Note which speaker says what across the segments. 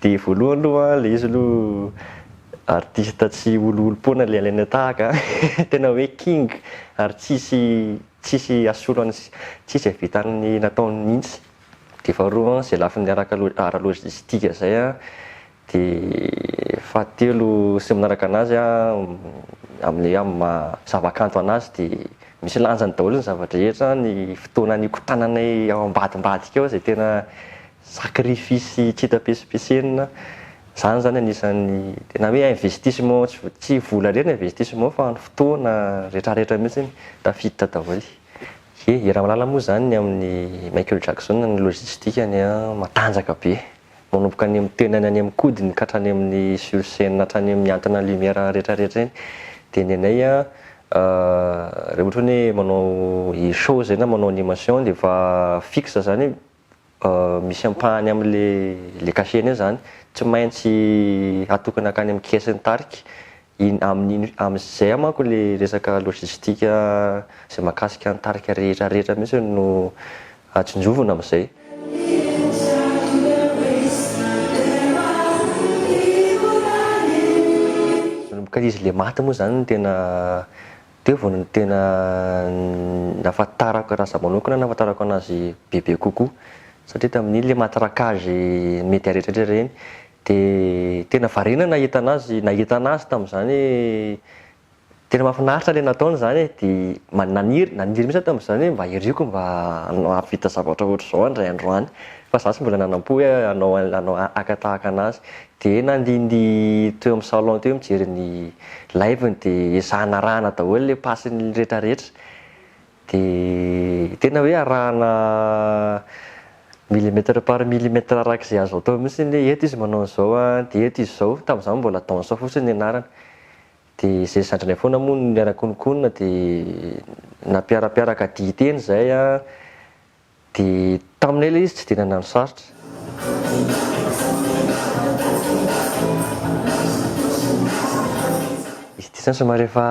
Speaker 1: Dia voalohany aloha an, ilay izy aloha artista tsy oloolom-poana ilay alaina tahaka an, tena hoe king ary tsisy tsisy asolo an'i tsisy havita an'ny nataony mihitsy, dia faharoa an, izay lafiny araka ara lojistika izay an, dia fahatelo sy ny manaraka anazy an, amin'ilay hoe maha zavakanto anazy dia misy lanjany daholo ny zava-drehetra an, ny fotoana nikotananay ao ambadimbadika ao izay tena sacrifice tsy hita pesipesenina, izany izany anisan'ny tena hoe investissement, tsy vola indray no investissement fa ny fotoana, ny retraretra mihintsy iny tafiditra daholo. Dia i Ramalala moa izany ny amin'i Michael Jackson ny logistique-ny matanjaka be, manomboka any amin'ny tenany any amin'ny kodiny ka hatrany amin'ny sur scène hatrany amin'ny mihantona lumière retraretra iny, dia ny anay raha ohatra hoe manao show izay na manao animation dia efa fixe izany hoe. misy ampahany amin'ilay cachet iny izany, tsy maintsy atokana hankany amin'ny caisse ny tarika, iny amin'iny amin'izay manko ilay resaka logistique izay mahakasika ny tarika rehetra rehetra mihitsy no tsinjovina amin'izay. Manomboka izy ilay maty moa izany no tena Teo vao no tena nahafantarako anazy manokana, nahafantarako anazy bebe kokoa, satria tamin'iny ilay matraquage media rehetrarehetra ireny dia tena variana nahita anazy, nahita anazy tamin'izany hoe tena mahafinaritra ilay nataony izany e, dia ma- naniry naniry mihitsy aho tamin'izany hoe mba hiriako mba hanao hahavita zavatra ohatr'izao indray andro any fa za tsy mbola nanam-po hoe hanao hanao haka tahaka anazy, Dia nandindy teo amin'ny salon teo mijery ny live-ny dia ezahina arahana daholo ilay passe-ny retraretra. Dia tena hoe arahana millimètre par millimètre araka izay azo atao mihintsy ny hoe eto izy manao an'izao an, dia eto izy izao. Tamin'izany mbola danson fotsiny ny anarany. Dia izay zandrinay foana moa no niara-kononkonona dia nampiarapiaraka dihy teny izay an. Dia taminay ilay izy tsy dia nandany sarotra. Izy ity izany somary efa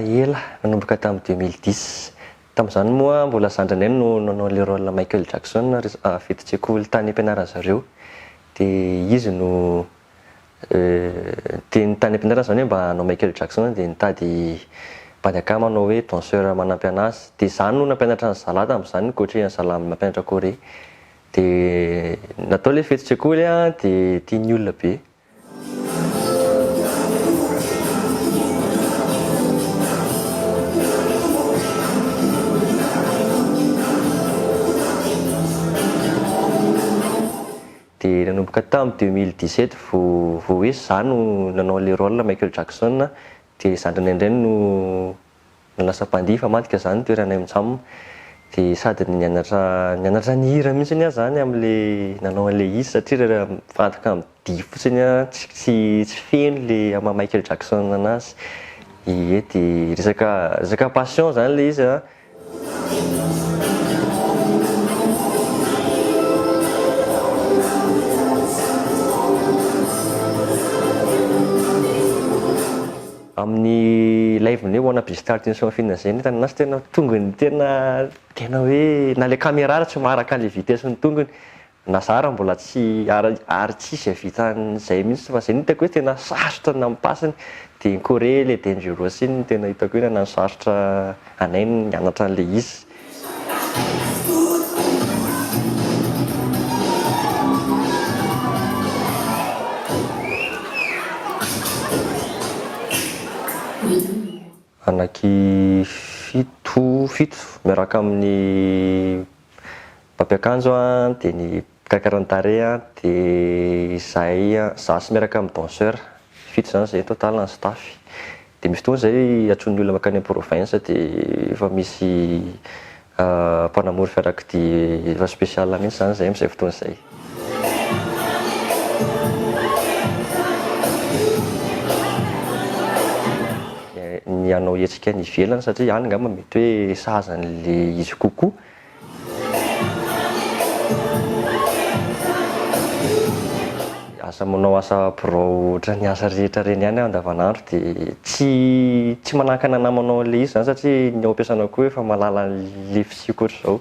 Speaker 1: ela, nanomboka tamin'ny deux mille dix. Tamin'izany moa mbola zandrinay no nanao ilay rôle Michael Jackson, ry, fidin-tsekoly tany am-pianaran'ny zareo. Dia izy no. Dia ny tany am-pianarana izany hoe mba hanao Michael Jackson dia nitady mpady akama hanao hoe danseur manampy an'azy. Dia izaho no nampianatra an'i zalahy tamin'izany, ni-coacher an'i zalahy mampianatra kore. Dia natao ilay fetin-tsekoly an, dia tian'ny olona be. Dia nanomboka tamin'ny deux mille dix sept vao vao hoe za no nanao le rôle Michael Jackson dia zandrinay indray no no lasa mpandihy fa madika zany ny toeranay mjam dia sady nianatra nianatra nihira mihitsiny ah zany amle nanao anle izy satria re raha mifantoka amin'ny dihy fotsiny ah tsy tsy tsy feno le amin'ny maha Michael Jackson anazy ie dia resaka resaka passion zany le izy ah. amin'ny live ny hoe wanna be start in something izay ny hitan'ny an'azy tena tongony tena tena hoe na le caméra ary tsy maharaka an'le vitesse ny tongony Nazara mbola tsy ary ary tsy izay vitan'izay mihitsy fa izay no hitako hoe tena sarotra ny nampipass ny dia iny Corée ilay Dangerous iny no tena hitako hoe nanano sarotra anay ny nianatra an'ilay izy. Anaky fito fito miaraka amin'ny Mpampiakanjo an, dia ny mpikaikara ny tarehy an, dia izahay izaho sy miaraka amin'ny danseur, fito izany izahay total ny staff, dia misy fotoana izahay antsoin'ny olona mankany amin'ny province dia efa misy mpanamory fiarakodia efa special mihintsy izany izahay amin'izay fotoana izay. ny hanao hetsika any ivelany satria any angamba mety hoe sahaza an'le izy kokoa. Asa manao asa birao ohatran'ny asa rehetra reny ihany aho andavanandro dia tsy tsy manakana namanao an'le izy zany satria ny ao am-piasanako eo efa mahalala an'le fisiako ohatr'izao